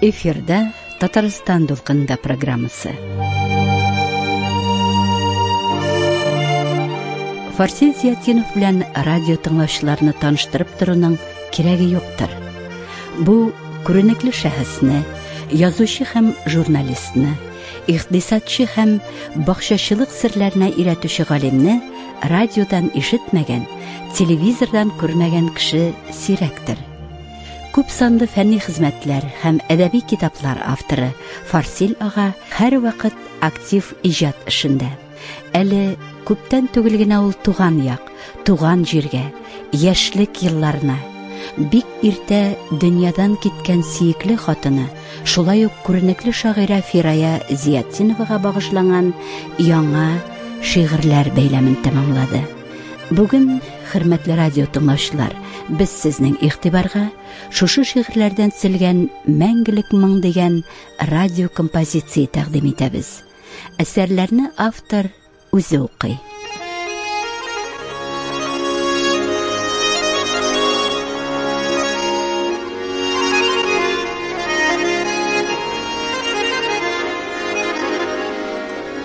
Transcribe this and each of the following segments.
Эфирда Татарстан дулкынында программасы. Фарсил Зиятдинов белән радио тыңлаучыларны таныштырып торуның кирәге юктыр. Бу күренекле шәхесне, язучы һәм журналистны, икътисадчы һәм бакчачылык серләренә өйрәтүче галимне радиодан ишетмәгән, телевизордан күрмәгән кеше сирәктер. Күп санлы фәнни хезмәтләр һәм әдәби китаплар авторы Фарсил ага һәрвакыт актив иҗат эшендә. Әле күптән түгел генә ул туган як, туган җиргә, яшьлек елларына, бик иртә дөньядан киткән сөекле хатыны, шулай ук күренекле шагыйрә Фирая Зиятдиновага багышланган яңа шигырьләр бәйләмен тәмамлады. Бүген, хөрмәтле радио тыңлаучылар, без сезнең игътибарга шушы шигырьләрдән төзелгән Мәңгелек моң дигән радио композиция тәкъдим итәбез. Әсәрләрне автор үзе укый.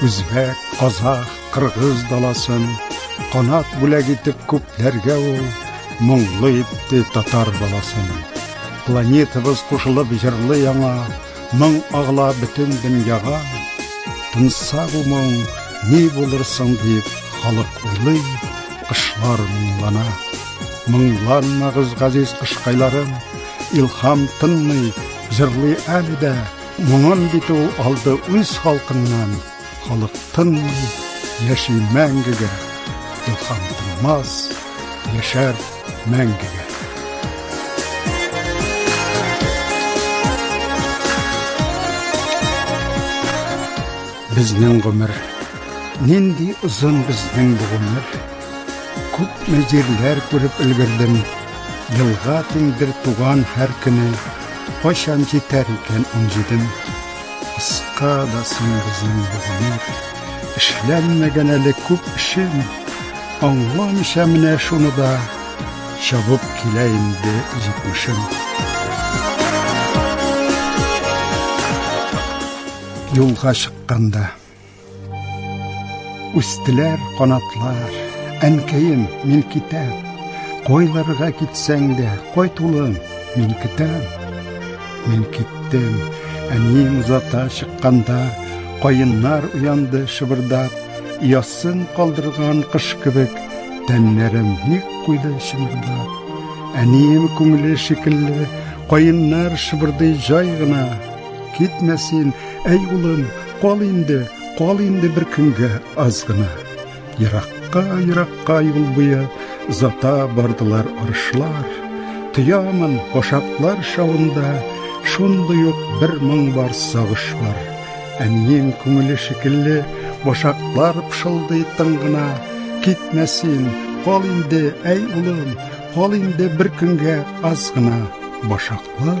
Үзбәк, казах, кыргыз даласын Канат бүләк итеп күпләргә ул Моңлы итте татар баласын Планетабыз кушылып җырлы яңа Моң агыла бөтен дөньяга Тынса бу моң, ни булыр соң дип Халык уйлый, кышлар моңлана Моңланмагыз, газиз кышкайларым Илхам тынмый, җырлый әле дә Моңын бит ул алды үз халкыннан, халык тынмый, яши мәңгегә, илһам тынмас, яшәр мәңгегә. Безнең гомер, нинди озын безнең бу гомер. Күпме җирләр күреп өлгердем, Елга тиңдер туган һәр көне, Кайчан җитәр икән унҗидем? Кыска да соң безнең бу гомер, Эшләнмәгән әле күп эшем, Аңламыйча менә шуны да, Чабып килә инде җитмешем. Юлга чыкканда. Үстеләр канатлар, әнкәем, мин китәм. Койларга китсәң дә, кайт улым, мин китәм. Мин киттем. Әнием озата чыкканда, каеннар уянды шыбырдап, ясын калдырган кыш кебек, тәннәрем ник куйды чымырдап. Әнием күңеле шикелле, каеннар шыбырдый җай гына, Китмә син, әй улым, кал инде, кал инде бер көнгә аз гына. Еракка, еракка юл буе зата бардылар арышлар. Тоямын кошаклар шавында шундый ук бер моң бар сагыш бар. Әнием күңеле шикелле башаклар пшылдый тын гына. Китмә син, кал инде, әй улым, кал инде бер көнгә аз гына. Башаклар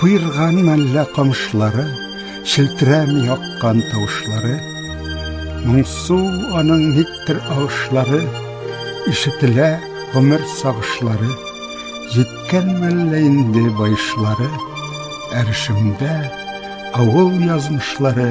Куерган мәллә камышлары, Челтерәми аккан тавышлары, Моңсу аның никтер агышлары, Ишетелә гомер сагышлары, Җиткән мәллә инде баешлары, Әрешемдә авыл язмышлары,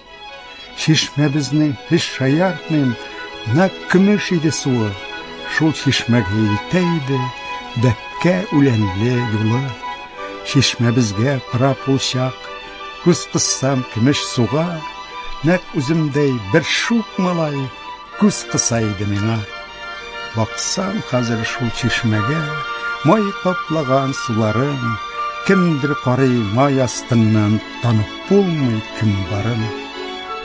Чишмәбезнең һич шаяртмыйм, нәкъ көмеш иде суы. Шул чишмәгә илтә иде бәккә үләнле юлы. Чишмәбезгә карап ул чак, күз кыссам көмеш суга, нәкъ үземдәй бер шук малай Күз кыса иде миңа. Баксам хәзер шул чишмәгә, май каплаган суларын, кемдер карый май астыннан, танып булмый кем барын.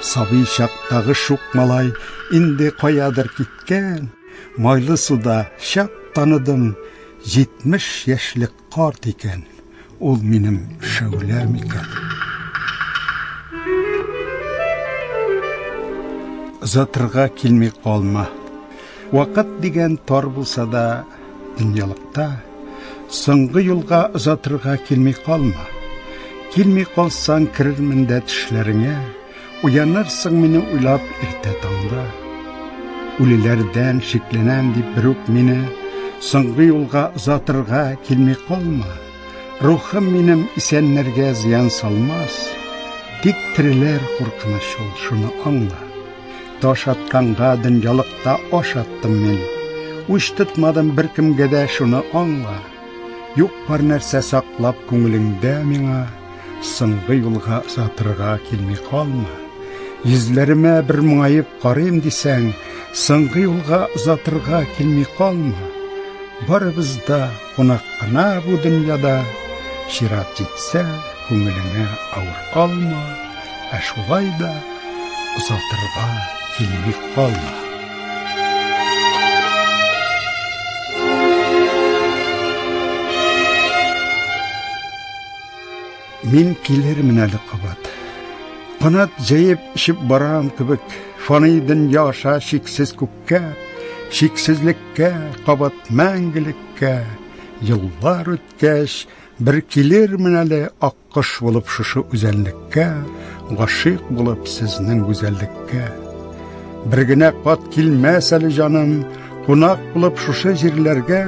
Сабый чактагы шук малай инде каядыр киткән, майлы суда чак таныдым, 70 яшьлек Карт икән, ул минем шәүлә микән? Озатырга килми калма. Вакыт дигән тар булса да, дөньялыкта соңгы юлга озатырга килми калма. Килми калсаң, керермен дә тешләреңә. Уянырсың мине уйлап иртә таңда. Үлеләрдән шикләнәм дип бер үк мине соңгы юлга озатырга килми калма. Рухым минем исәннәргә зыян салмас. Тик тереләр куркыныч ул, шуны аңла. Таш атканга дөньялыкта аш аттым мин. Уч тотмадым беркемгә дә, шуны аңла. Юк бар нәрсә саклап күңелеңдә миңа, Соңгы юлга озатырга килми калма. Йөзләремә бер моңаеп карыйм дисәң, Соңгы юлга озатырга килми калма. Барыбыз да кунак кына бу дөньяда, Чират җитсә, күңелеңә авыр калма. Ә шулай да озатырга тилми калма. Мин килермен әле кабат. Канат җәеп шип барам кебек, фани дөнья аша шиксез күккә, шиксезлеккә, кабат мәңгелеккә. Еллар үткәч, бер килермен әле ак Кош булып шушы үзәнлеккә, Гашыйк булып сезнең гүзәллеккә. Бер генә кат килмәс әле җаным, Кунак булып шушы җирләргә,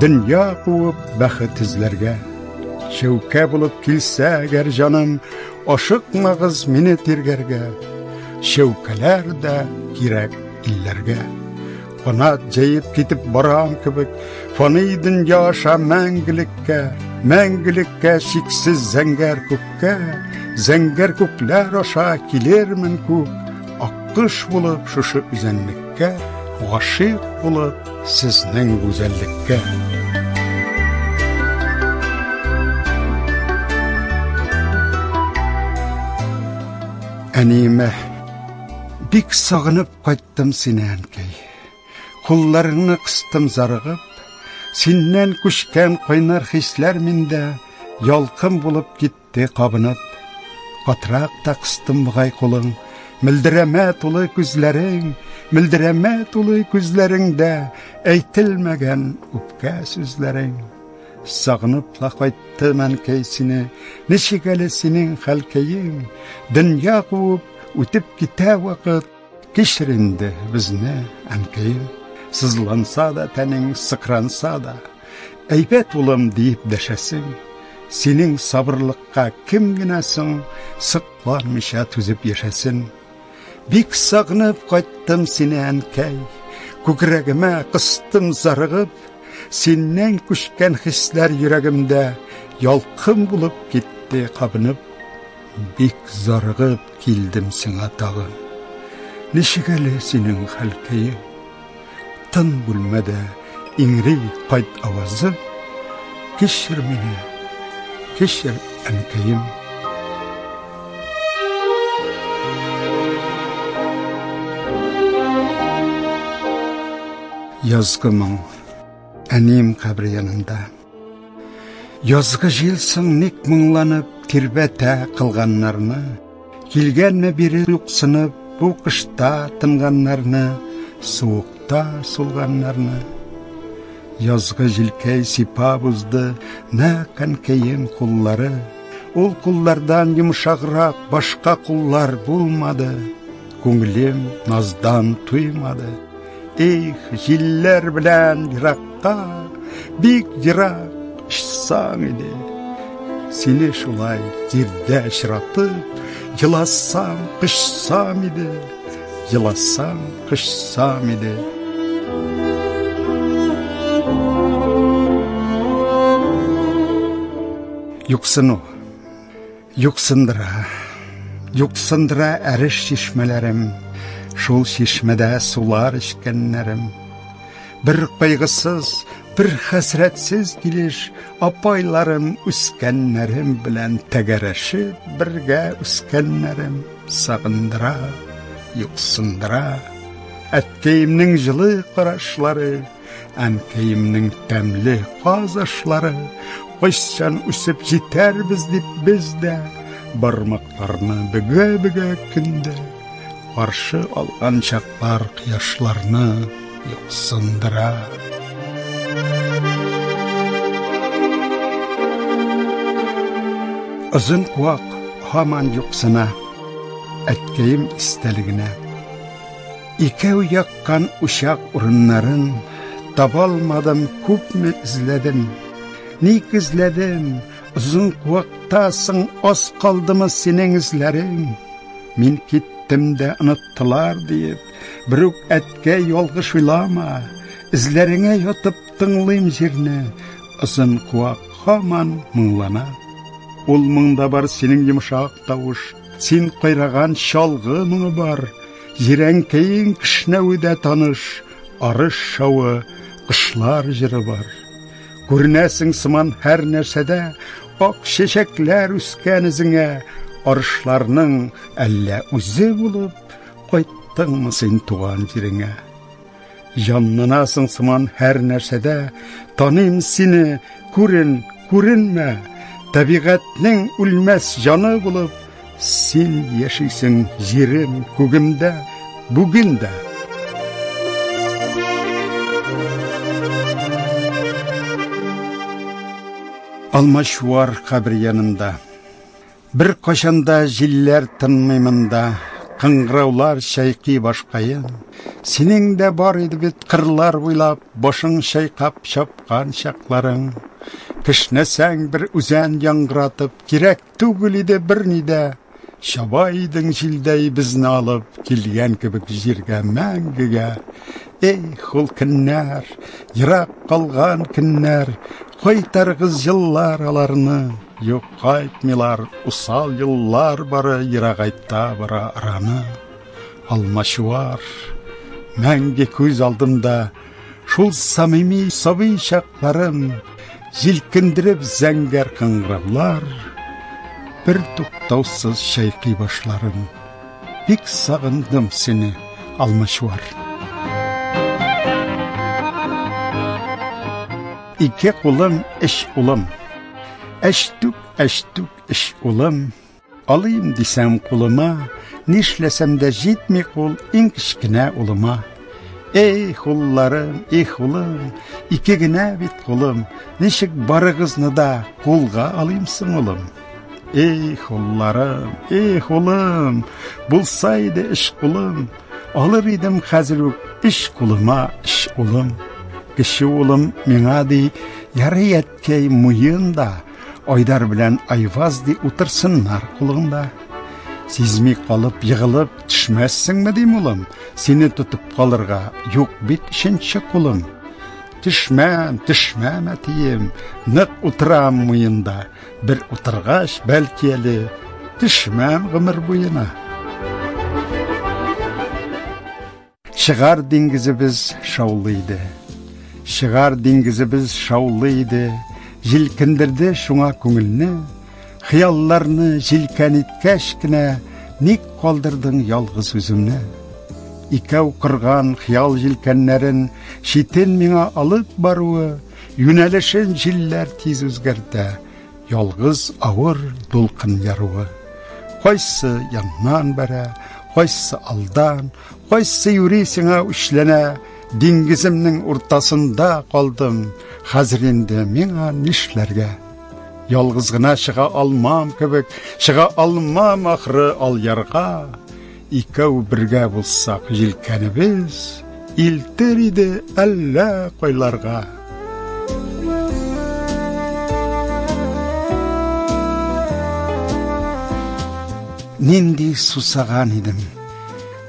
Дөнья куып бәхет эзләргә. Чәүкә булып килсә әгәр җаным, Ашыкмагыз мине тиргәргә, Чәүкәләр дә кирәк илләргә. Канат җәеп китеп барам кебек, фани дөнья аша мәңгелеккә, мәңгелеккә чиксез зәңгәр күккә, зәңгәр күкләр аша килермен күк, аккыш булып шушы үзәнлеккә, гашыйк булып сезнең гүзәллеккә. Әниемә бик сагынып кайт Яттым сине, әнкәй. Кулларыңны кыстым зарыгып, Синнән күчкән кайнар хисләр миндә Ялкын булып китте кабынып. Катрак та кыстым бугай кулың, Мөлдерәмә тулы күзләрең, Мөлдерәмә тулы күзләреңдә Әйтелмәгән үпкә сүзләрең. Сагынып та кайттым, әнкәй, сине, Ничек әле синең хәлкәең? Дөнья куып, үтеп китә вакыт, Кичер инде безне, әнкәем, сызланса да тәнең, сыкранса да, әйбәт улым диеп дәшәсең, синең сабырлыкка кем генә соң сыкланмыйча түзеп яшәсен. Бик сагынып кайттым сине, әнкәй, күкрәгемә кыстым зарыгып, синнән күчкән хисләр йөрәгемдә ялкын булып китте кабынып. Бик зарыгып килдем сиңа тагын. Ничек әле синең хәл көең? Тын бүлмәдә иңри кайт авазы. Кешер мине, кешер әнкәем. Язгы моң. Әнием кабре янында. Язгы җил соң ник моңланып тирбәтә кылганнарны. Килгәнме бире юксынып бу кышта тынганнарны, суыкта сулганнарны. Язгы җилкәй сипап узды нә кәнкәем куллары. Ул куллардан йомшаграк башка куллар булмады. Күңелем наздан туймады. Их, җилләр белән еракка, бик ерак очсаң иде. Сине шулай җирдә очратып, еласам, кышсам иде. Еласам, кышсам иде. Юксыну Юксындыра, юксындыра әреш чишмәләрем, Шул чишмәдә сулар эчкәннәрем. Бер кайгысыз, бер хәсрәтсез килеш Апайларым үскәннәрем белән тәгәрәшеп бергә үскәннәрем Сагындыра, юксындыра, әткәемнең җылы карашлары, Әнкәемнең тәмле казышлары, кайчан үсеп җитәрбез дип без дә бармакларны бөгә-бөгә көндә каршы алган чаклар кояшларны юксындыра. Озын куак һаман юксына, әткәем истәлегенә. Икәү яккан учак урыннарын таба алмадым, күпме эзләдем. Ник эзләдем? Озын куакта соң аз калдымы синең эзләрең? Мин киттем дә оныттылар диеп, бер үк әткә ялгыш уйлама. Эзләреңә ятып тыңлыйм җирне, озын куак һаман моңлана. Ул моңда бар синең йомшак тавыш, син кайраган чалгы моңы бар. Җирәнкәең кешнәве дә таныш, арыш шавы, кошлар җыры бар. Күренәсең сыман һәр нәрсәдә, ак чәчәкләр үскән эзеңә, арышларның әллә үзе булып, кайттыңмы син туган җиреңә? Җанланасың сыман һәр нәрсәдә, Таныйм сине, күрен, күренмә, Табигатьнең үлмәс җаны булып, Син яшисең җирем, күгемдә, бүген дә. Алмачуар кабер янында Беркайчан да җилләр тынмый монда, Кыңгыраулар чайкый башкаен. Синең дә бар иде бит кырлар буйлап Башың чайкап чапкан чакларың. Кешнәсәң бер үзән яңгыратып, Кирәк түгел иде берни дә. Чаба идең җилдәй безне алып, Килгән кебек җиргә мәңгегә. Эх, ул көннәр, ерак калган көннәр, Кайтарыгыз җыллар аларны. Юк, кайтмыйлар, усал еллар бары Ерагайта бара араны. Алмачуар, мәңге күз алдымда, Шул самими сабый чакларым, Җилкендереп зәңгәр кыңгыраулар, Бер туктаусыз чайкый башларым. Бик сагындым сине, Алмачуар. Ике кулым, эш улым. Әчтүк, әчтүк, эш улым, алыйм дисәм кулыма, нишләсәм дә җитми кул иң кечкенә улыма. Эй, хулларым, эй, хулым, ике генә бит кулым, ничек барыгызны да кулга алыйм соң улым? Эй, хулларым, эй, хулым, булса иде эш кулым, алыр идем хәзер үк эш кулыма, эш улым. Кече улым миңа ди, ярый Әткәй муен да Айдар белән Айваз ди утырсыннар кулыңда. Сизми калып, егылып төшмәссеңме дим, улым, сине тотып калырга юк бит икенче кулым. Төшмәм, төшмәм, әтием, нык утырам муенда. Бер утыргач, бәлки әле төшмәм гомер буена. Чыгар диңгезебез шаулы иде. Чыгар диңгезебез шаулы иде. Җилкендерде шуңа күңелне. Хыялларны җилкән иткәч кенә, ник калдырдың ялгыз үземне? Икәү кырган хыял җилкәннәрен читен миңа алып баруы, юнәлешен җилләр тиз үзгәртә. Ялгыз авыр дулкын яруы. Кайсы яннан бәрә, кайсы алдан, Кайсы юри сиңа үчләнә, диңгеземнең уртасында калдым, хәзер инде миңа нишләргә? Ялгыз гына чыга алмам кебек, чыга алмам ахры ал ярга. Икәү бергә булсак җилкәнебез, илтер иде әллә кайларга. Нинди сусаган идем.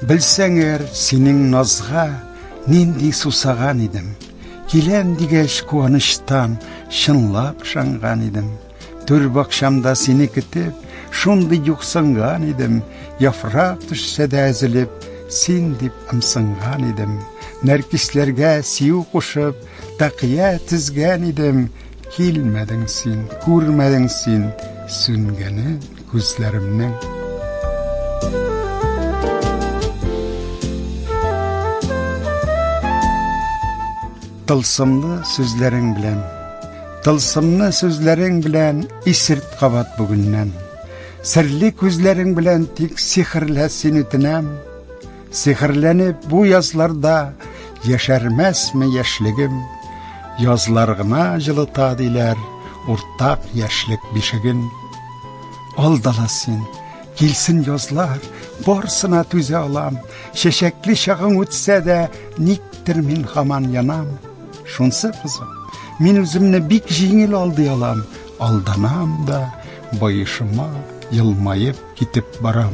Белсәңер, синең назга нинди сусаган идем. Киләм дигәч куаныштан чынлап шанган идем. Түр бакчамда сине көтеп, шундый юксынган идем. Яфрак төшсә дә әзелеп, син дип ымсынган идем. Нәркисләргә сию кушып, тәкъия тезгән идем. Килмәдең син, күрмәдең син Сүнгәнен күзләремнең. Тылсымлы сүзләрең белән Тылсымны сүзләрең белән исерт кабат бүгеннән. Серле күзләрең белән тик сихерлә син үтенәм. Сихерләнеп бу язларда яшәрмәсме яшьлегем? Язлар гына җылыта диләр, уртак яшьлек бишеген. Алдала син, килсен язлар, барсына түзә алам. Чәчәкле чагың үтсә дә, никтер мин хаман янам. Шунсы кызым, мин үземне бик җиңел алдый алам, алданам да, баешыма елмаеп китеп барам.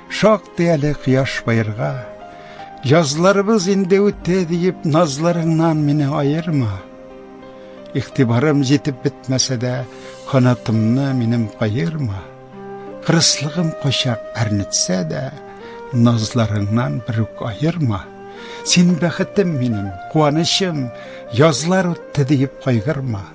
Шактый әле кояш баерга, Язларыбыз инде үтте диеп, назларыңнан мине аерма. Игътибарым җитеп бетмәсә дә, канатымны минем каерма. Кырыслыгым кочак әрнетсә дә, назларыңнан бер үк аерма. Син бәхетем минем, куанычым, язлар үтте диеп кайгырма.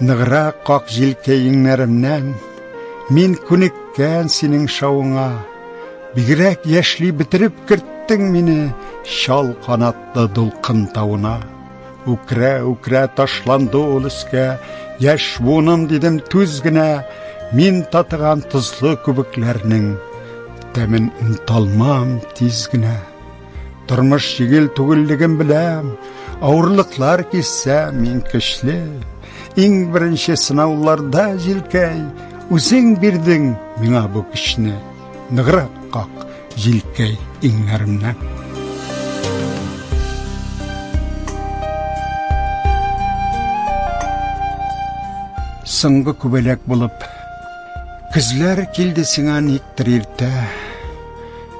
Ныграк как җилкәеңнәремнән, Мин күнеккән синең шавыңа, Бигрәк яшьли бетереп керттең мине Чал канатлы дулкын тавына. Үкрә-үкрә ташланды ул өскә, Яшь буыным дидем түз генә, Мин татыган тозлы күбекләрнең Тәмен оныталмам тиз генә. Тормыш җигел түгеллеген беләм, авырлыклар кисә мин көчле. Иң беренче сынауларда җилкәй, үзең бирдең миңа бу көчне. Ныграк как җилкәй иңнәремнән. Соңгы күбәләк булып, көзләр килде сиңа никтер иртә.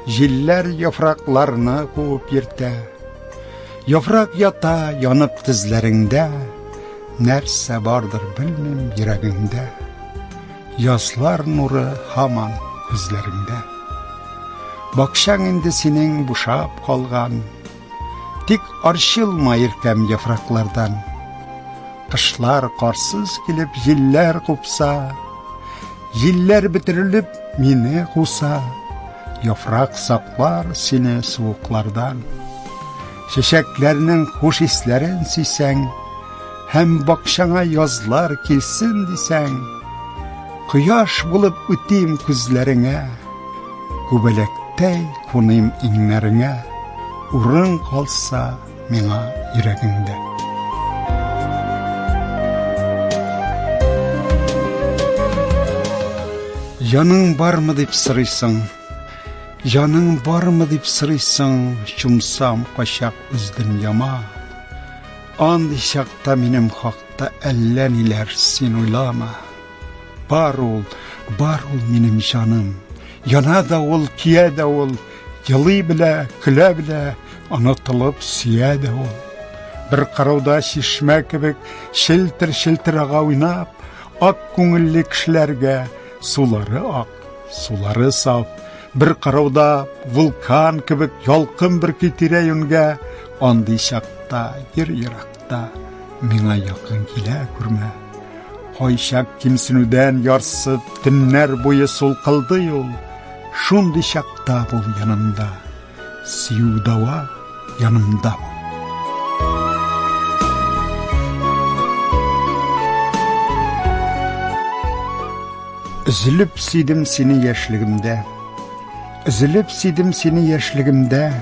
Җилләр яфракларны куып йөртә Яфрак ята янып тезләреңдә Нәрсә бардыр белмим йөрәгеңдә Язлар нуры һаман күзләреңдә Бакчаң инде синең бушап калган Тик арчылма иркәм яфраклардан. Кышлар карсыз килеп җилләр купса, Җилләр бетерелеп мине куса, Яфрак саклар сине суыклардан. Чәчәкләрнең хуш исләрен сисәң, Һәм бакчаңа язлар килсен дисәң, Кояш булып үтим күзләреңә, Күбәләктәй куныйм иңнәреңә, Урын калса миңа йөрәгеңдә. Җаның бармы дип сорыйсың, Җаның бармы дип сорыйсың, Чумсам качак үз дөньяма. Андый чакта минем хакта Әллә ниләр син уйлама. Бар ул, бар ул минем җаным. Яна да ул, кия да ул, елый белә, көлә белә, онытылып сөя да ул. Бер карауда чишмә кебек челтер-челтер ага уйнап, ак күңелле кешеләргә сулары ак, сулары саф. Бер карауда вулкан кебек ялкын бер китирә юнгә, андый чакта ир ерак. вакытта миңа якын килә күрмә. Кайчак кимсенүдән ярсып, төннәр буе сулкылдый ул. Шундый чакта бул янымда. Сөю дава янымда бул. Үзелеп сөйдем сине яшьлегемдә. Үзелеп сөйдем сине яшьлегемдә.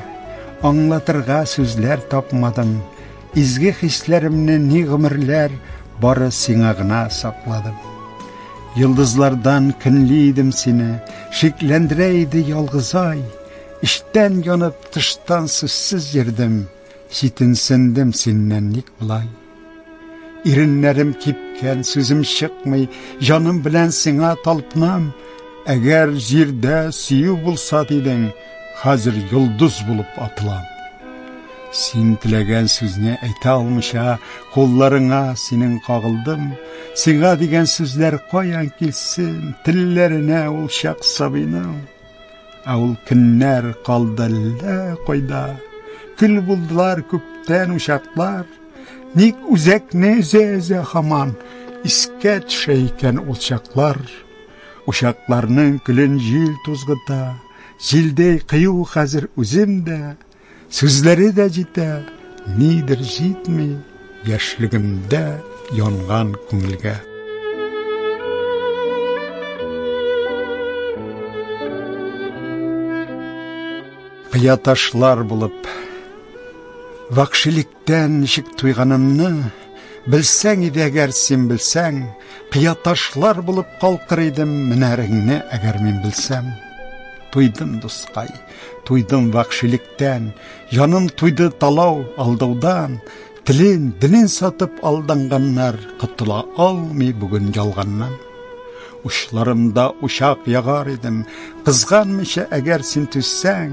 Аңлатырга сүзләр тапмадым. Изге хисләремне ни гомерләр бары сиңа гына сакладым. Йолдызлардан көнли идем сине, шикләндерә иде ялгызай. Эчтән янып, тыштан сүзсез йөрдем, читенсендем синнән ник болай. Иреннәрем кипкән, сүзем чыкмый, җаным белән сиңа талпынам. Әгәр җирдә сөю булса дидең, хәзер йолдыз булып атылам. Син теләгән сүзне әйтә алмыйча, кулларыңа синең кагылдым. Сиңа дигән сүзләр каян килсен, телләренә ул чак сабыйның. Ә ул көннәр калды әллә кайда. Көл булдылар күптән учаклар. Ник үзәкне өзә-өзә хаман искә төшә икән ул чаклар. Учакларның көлен җил тузгыта. Җилдәй кыю хәзер үзем дә, Сүзләре дә җитә, нидер җитми, яшьлегемдә янган күңелгә. Кыя ташлар булып, вакшилек Тән ничек туйганымны Белсәң иде әгәр син белсәң, Кыя ташлар булып калкыр идем, Менәреңне әгәр мин белсәм. Туйдым, дускай, туйдым вакшилектән, Җаным туйды талау, алдаудан, Телен, динен сатып алданганнар, Котыла алмый бүген ялганнан. Учларымда учак ягар идем, кызганмыйча әгәр син түзсәң,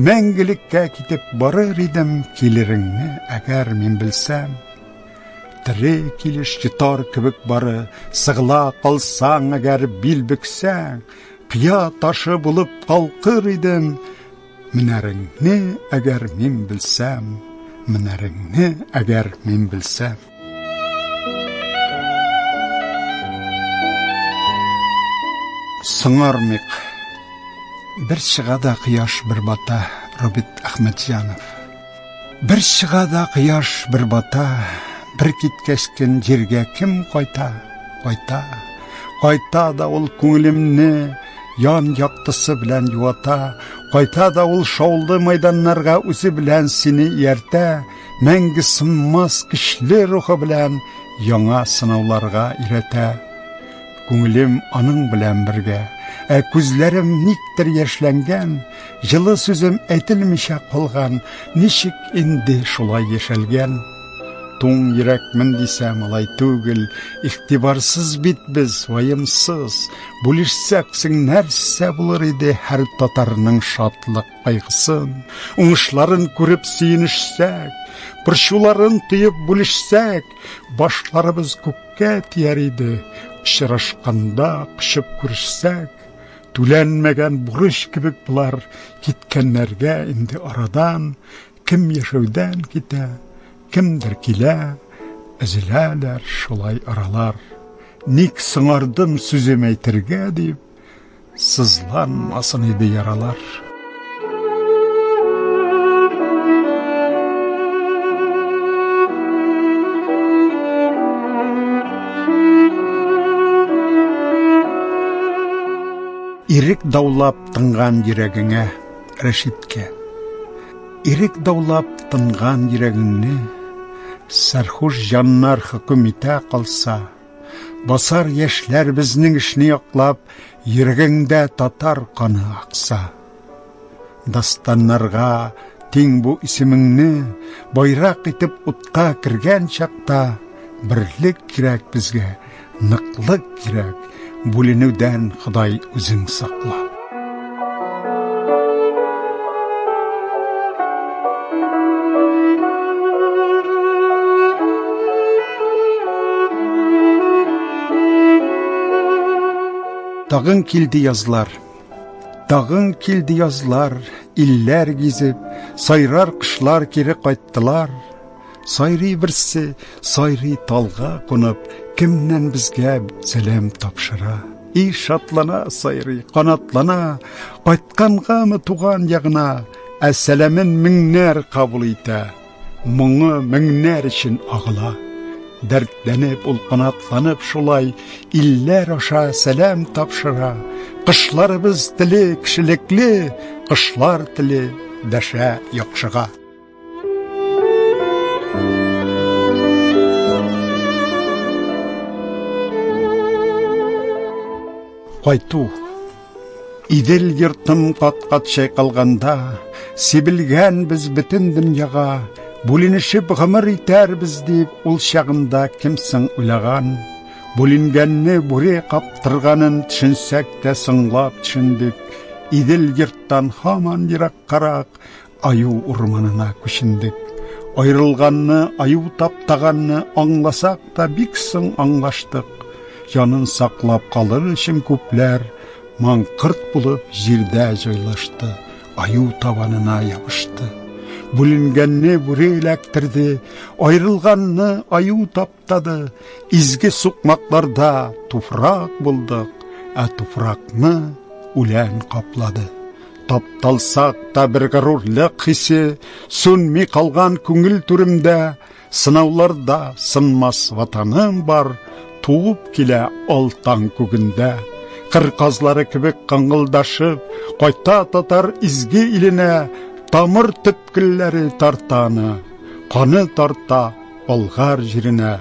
мәңгелеккә китеп барыр идем, килереңне әгәр мин белсәм. Тире килеш йотар кебек бары, сыгыла калсаң әгәр бил бөксәң, кыя ташы булып калкыр идем, менәреңне әгәр мин белсәм, менәреңне әгәр мин белсәм. Сыңармык. Бер чыга да кояш бер бата, Робит Ахмедҗанов. Бер чыга да кояш бер бата, бер киткәч көн җиргә кем кайта? Кайта. Кайта да ул күңелемне ян яктысы белән юата, кайта да ул шаулы майданнарга үзе белән сине ияртә. мәңге сынмас көчле рухы белән яңа сынауларга өйрәтә. Күңелем аның белән бергә, ә күзләрем никтер яшьләнгән, җылы сүзем әйтелмичә калган, ничек инде шулай яшәлгән? Туң йөрәкмен дисәм, алай түгел, игътибарсыз бит без, ваемсыз. Бүлешсәк, нәрсә булыр иде һәр татарның шатлык кайгысын, уңышларын күреп сөенешсәк, борчуларын тоеп бүлешсәк, башларыбыз күккә тияр иде. Очрашканда кочып күрешсәк, түләнмәгән бурыч кебек болар киткәннәргә инде арадан кем яшәүдән китә, кемдер килә, әзеләләр шулай аралар. Ник соңардым сүзем әйтергә дип, Сызланмасын иде яралар. Ирек даулап тынган йөрәгеңә, Рәшиткә. Ирек даулап тынган йөрәгеңне, Сәрхуш җаннар хөкем итә калса, Басар яшьләр безнең эшне яклап, йөрәгеңдә татар каны акса. Дастаннарга тиң бу исемеңне байрак итеп утка кергән чакта берлек кирәк безгә, ныклык кирәк, бүленүдән Ходай үзең сакла. Тагын килде язлар. Тагын килде язлар, илләр гизеп, сайрар кышлар кире кайттылар. Сайрый берсе, сайрый талга кунып, кемнән безгә сәлам тапшыра. И шатлана сайрый, канатлана, кайткангамы туган ягына, ә сәламен меңнәр кабул итә. Моңы меңнәр өчен агыла. Дәртләнеп, ул канатланып шулай, илләр аша сәлам тапшыра. Кышларыбыз теле кешелекле, кышлар теле дәшә яхшыга. Кайту Идел йортым кат-кат чайкалганда, сибелгән без бөтен дөньяга, бүленешеп гомер итәрбез дип, ул чагында кемсең уйлаган? Бүленгәнне бүре каптырганын төшенсәк тә соңлап төшендек. Идел йорттан һаман ераккарак, Аю урманына күчендек. Аерылганны, аю таптаганны аңласак та бик соң аңлаштык. Янын саклап калыр өчен күпләр маңкырт булып җирдә җайлашты, аю табанына ябышты. Бүленгәнне бүре эләктерде, аерылганны аю тап Тады изге сукмакларда туфрак булдык, ә туфракны үлән каплады. Тапталсак та бер горурлык хисе сүнми калган күңел түремдә, сынауларда сынмас ватаным бар, туып килә алтан күгендә. Кыр казлары кебек кыңгылдашып, кайта татар изге иленә, тамыр төпкелләре тартаны, каны тарта Болгар җиренә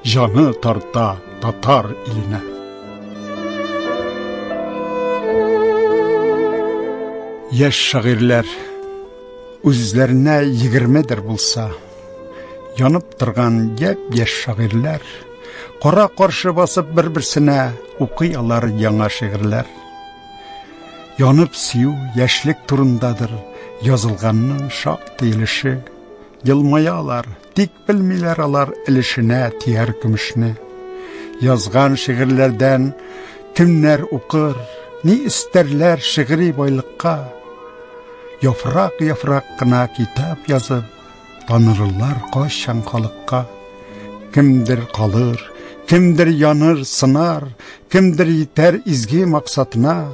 җаны тарта татар иленә. Яшь шагыйрьләр үзләренә егермедер булса, янып торган яп яшь шагыйрьләр кара каршы басып бер берсенә укый алар яңа шигырьләр янып сөю яшьлек турындадыр язылганның шактый өлеше Елмаялар, тик белмиләр алар өлешенә тияр көмешне. Язган шигырьләрдән кемнәр укыр, ни истәрләр шигъри байлыкка. Яфрак-яфрак кына китап язып, танырлар кайчан халыкка. Кемдер калыр, кемдер яныр, сынар, кемдер итәр изге максатына.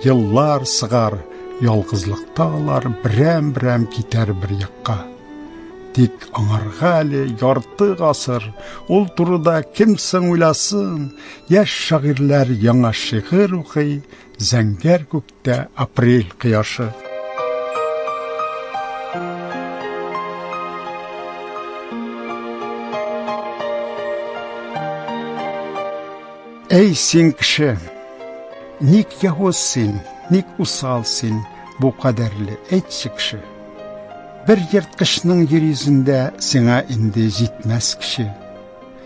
Еллар сыгар, ялгызлыкта алар берәм-берәм китәр бер якка. Тик аңарга әле ярты гасыр, ул турыда кем соң уйласын? Яшь шагыйрьләр яңа шигырь укый, зәңгәр күктә апрель кояшы. Әй син кеше! Ник яһуз син, ник усал син, бу кадәрле, әйтче кеше! Бер ерткычның йир йөзендә сиңа инде җитмәс кеше.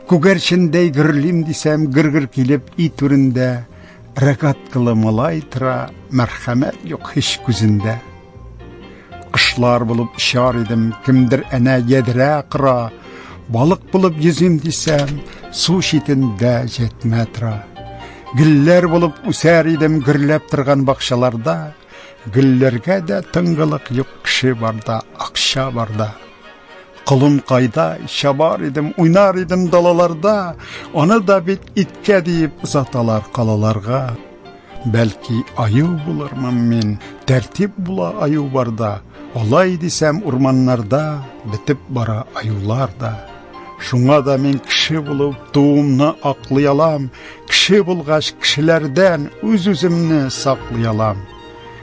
Күгәрчендәй гөрлим дисәм, гөргер килеп и түрендә, рогаткалы малай тора, мәрхәмәт юк һич күзендә. Кошлар булып очар идем, кемдер әнә ядрә кыра. Балык булып йөзим дисәм, су читендә җәтмә тора. Гөлләр булып үсәр идем гөрләп торган бакчаларда. Гөлләргә дә тыңгылык юк, кеше барда, акча барда. Колын кайда, чабар идем, уйнар идем далаларда. Аны да бит иткә диеп озаталар калаларга. Бәлки аю булырмын мин, тәртип була аю барда, алай дисәм урманнарда бетеп бара аюлар да. Шуңа да мин кеше булып туымны аклый алам, кеше булгач кешеләрдән үз-үземне саклый алам.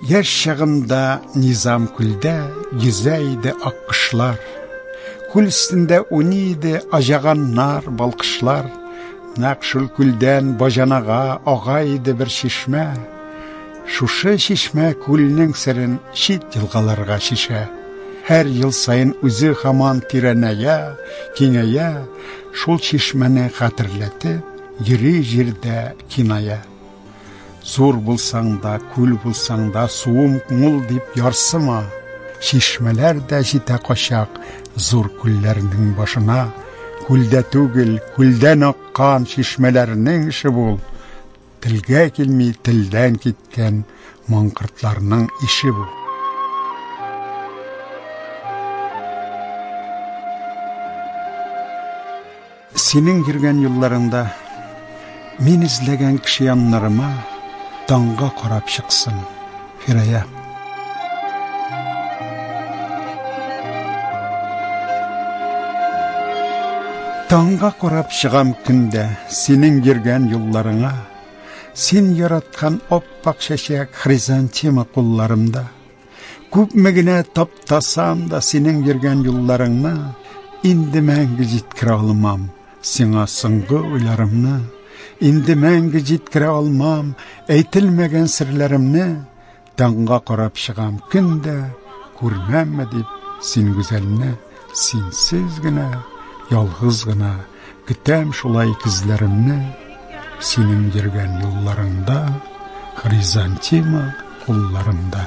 Яшь чагымда Низам күлдә йөзә иде аккошлар. Күл өстендә уйный иде аҗаганнар, балкышлар. Нәкъ шул күлдән баҗанага ага иде бер чишмә. Шушы чишмә күлнең серен чит елгаларга чишә. Һәр ел саен үзе хаман тирәнәя, киңәя, шул чишмәне хәтерләтеп, йөри җирдә киная. Зур булсаң да, күл булсаң да, суым мул дип ярсыма. Чишмәләр дә җитә качак зур күлләрнең башына. Күлдә түгел, күлдән аккан чишмәләрнең эше бул. Телгә килми телдән киткән маңкыртларның ише бу. Синең йөргән юлларыңда Мин эзләгән кеше яннарыма Таңга карап чыксын, Фирая. Таңга карап чыгам көндә Синең йөргән юлларыңа Син яраткан оппак чәчәк Хризантема кулларымда Күпме генә таптасам да синең йөргән юлларыңны инде мәңге җиткерә алмам. Сиңа соңгы уйларымны инде мәңге җиткерә алмам. Әйтелмәгән серләремне таңга карап чыгам көндә күрмәмме дип син гүзәлне. Синсез генә, ялгыз гына Көтәм шулай кизләремне Синең йөргән юлларыңда Хризантима кулларымда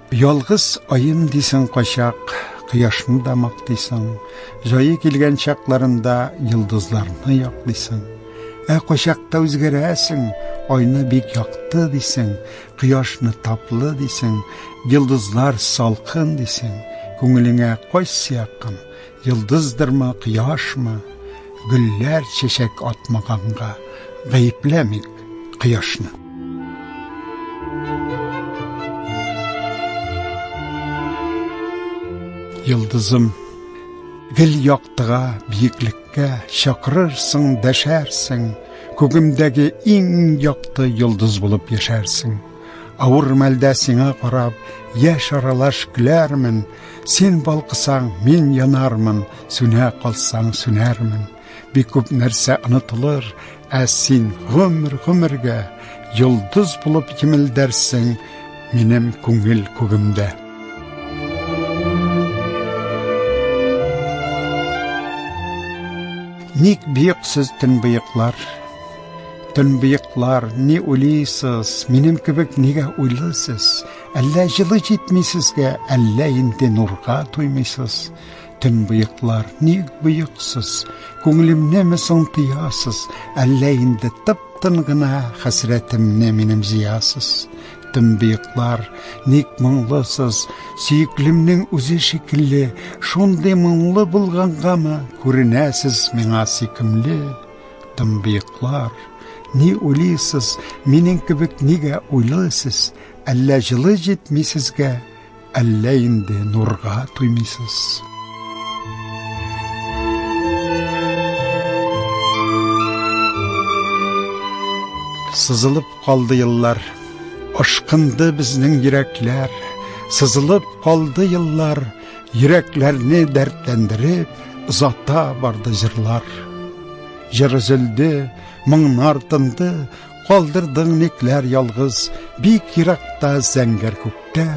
Ялгыз аем дисең кайчак, Кояшны да мактыйсың, Җае килгән чакларында Йолдызларны яклыйсың. Ә кайчакта үзгәрәсең, Айны бик якты дисең, Кояшны таплы дисең, Йолдызлар салкын дисең. Күңелеңә кайсы якын? Йолдыздырмы, кояшмы, гөлләр чәчәк атмаганга, гаепләмик кояшны. Йолдызым, гел яктыга, биеклеккә чакырырсың, дәшәрсең, күгемдәге иң якты йолдыз булып яшәрсең. Авыр мәлдә сиңа карап, яшь аралаш көләрмен, Син балкысаң, мин янармын, сүнә калсаң, сүнәрмен. Бик күп нәрсә онытылыр, ә син гомер гомергә йолдыз булып җимелдәрсең минем күңел күгемдә. Ник бик сез төнбыеклар? Төнбыеклар, ни уйлыйсыз? Минем кебек нигә уйлысыз? Әллә җылы җитми сезгә, әллә инде нурга туймыйсыз? Төн быеклар, ник быексыз? Күңелемне ме соң тыясыз? Әллә инде тып-тын гына хәсрәтемне минем зиясыз? Төн быеклар, ник моңлысыз? Сөеклемнең үзе шикелле, шундый моңлы булгангамы күренәсез миңа сөйкемле? Тын быеклар, ни уйлыйсыз, минем кебек нигә уйлыйсыз? Әллә җылы җитми сезгә, әллә инде нурга туймыйсыз. Сызылып калды еллар, ашкынды безнең йөрәкләр, сызылып калды еллар, йөрәкләрне дәртләндереп, озата барды җырлар. Җыр өзелде, моңнар тынды, Калдырдың никләр ялгыз, бик еракта зәңгәр күктә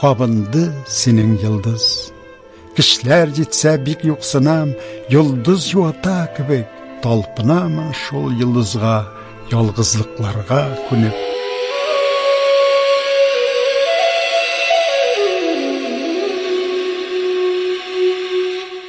кабынды синең йолдыз. Кешеләр җитсә бик юксынам, йолдыз юата кебек, талпынамын шул йолдызга, ялгызлыкларга күнеп.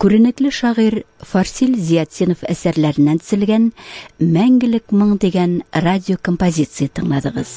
Күренекле шагыйрь Фарсил Зиятдинов әсәрләреннән төзелгән Мәңгелек моң дигән радиокомпозиция тыңладыгыз.